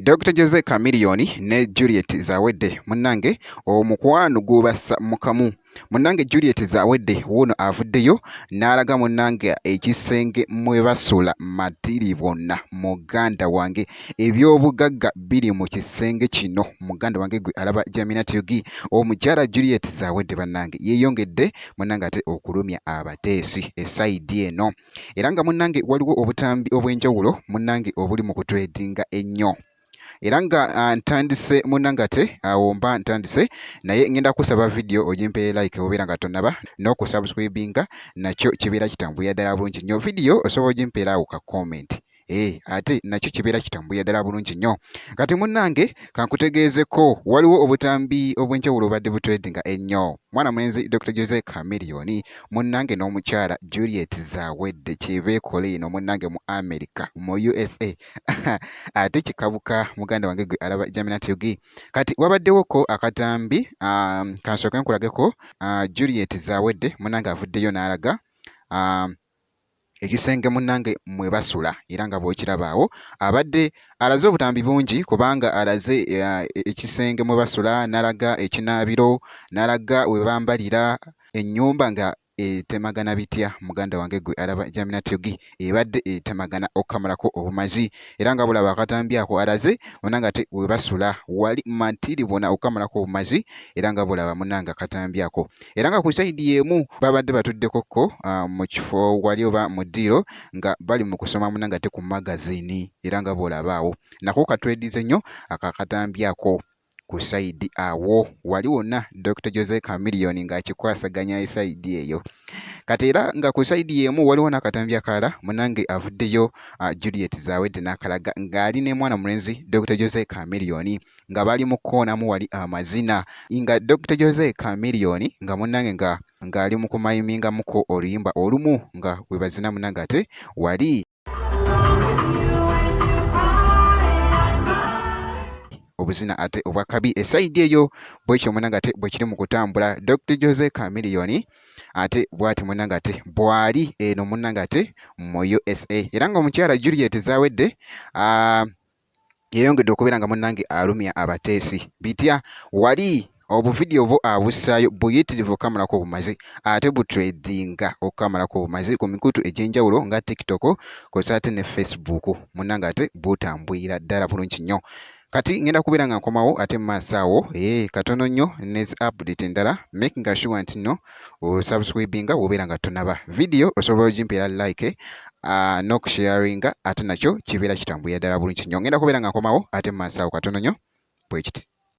Dr. Jose Chameleone ne Juliet Zawedde munnange omukwano gw'obassa mu kamu munnange Juliet Zawedde wuuno avuddeyo n'alaga munnange ekisenge mwe basula Matiribona muganda wange. eby'obugagga biri mu kisenge kino muganda wange gwe alaba jaminat yogi omukyala juliet zawedde bannange yeeyongedde munnange ate okulumya abateesi esayidi eno era nga munnange waliwo obutambi obw'enjawulo munnange obuli mu kutwedinga ennyo era nga ah, ntandise munnange ate awo ah, mba ntandise naye ngenda kusaba vidiyo ogimpeye like obeera nga tonaba n'okusubscribinga nakyo kibeera kitambulira ddala bulungi nnyo vidiyo osobola ogimpera awo ka komenti Eh, ate nakyo kibeera kitambuya ddala bulungi nnyo kati munnange kankutegeezeko waliwo obutambi obw'enjawulo obadde butredinga ennyo mwana mulenzi dr jose camilioni munnange n'omukyala juliet zawedde kyebeekola eno munnange mu america mu usa ate kikabuka muganda wange gwe alaba jaminatug kati wabaddewoko akatambi um, kansooke nkulageko uh, juliet zawedde munnange avuddeyo n'alaga um, ekisenge munnange mwe basula era nga bw'okiraba awo abadde alaze obutambi bungi kubanga alaze eh, ekisenge mwe basula n'alaga ekinaabiro n'alaga we bambalira ennyumba nga etemagana bitya muganda wange gwe alaba jaminatyogi ebadde etemagana okukamulako obumazi era nga bulaba akatambi ako alaze munanga ate webasula wali matiri bona okukamulako obumazi era nga bulaba munanga akatambi ako era nga ku sayidi y'emu babadde batuddeko ko ah, mu kifo wali oba mu ddiiro nga bali mu kusoma muna nga te ku magazini era nga bw'olabaawo nako katwedize nnyo akakatambi ako ku sayidi awo wali wonna dr jose camillion ng'akikwasaganya esayidi eyo kati era nga ku sayidi y'emu waliwo n'akatambi akalala munange avuddeyo ah, juliet zawedde n'akalaga ng'ali ne mwana mulenzi dr jose camillion nga bali mu kukoonamu wali amazina nga Dokita Jose Chameleone nga munnange nga ng'ali mu kumayimingamuko oluyimba olumu nga bwe bazina munnange ate wali obuzina ate obwakabi esayidi eyo bwekyo munanga ate bwekiri mu kutambula dr jose camiliyoni ate bwati munanga ate bwali eno munanga ate mu usa era nga omukyala juliet zawedde yeyongedde okubeera nga munnange alumya abateesi bitya wali obuvidiyo bwo abussaayo buyitirivu okukamalako obumazi ate butredinga okukamalako obumazi ku mikutu egy'enjawulo nga tiktok kosa ate ne facebook munnange ate butambwira ddala bulungi nnyo kati ngenda kubeera nga nkomawo ate mu maaso awo ee eh, katono nnyo nezi update endala making sure nti no osubscribinga wobeera nga tonaba vidiyo osobola ogimpeera like uh, nokusharinga ate nakyo kibeera kitambuya ddala bulungi nyo ngenda kubeera nga nkomawo ate mumansaawo katono nyo bwekiti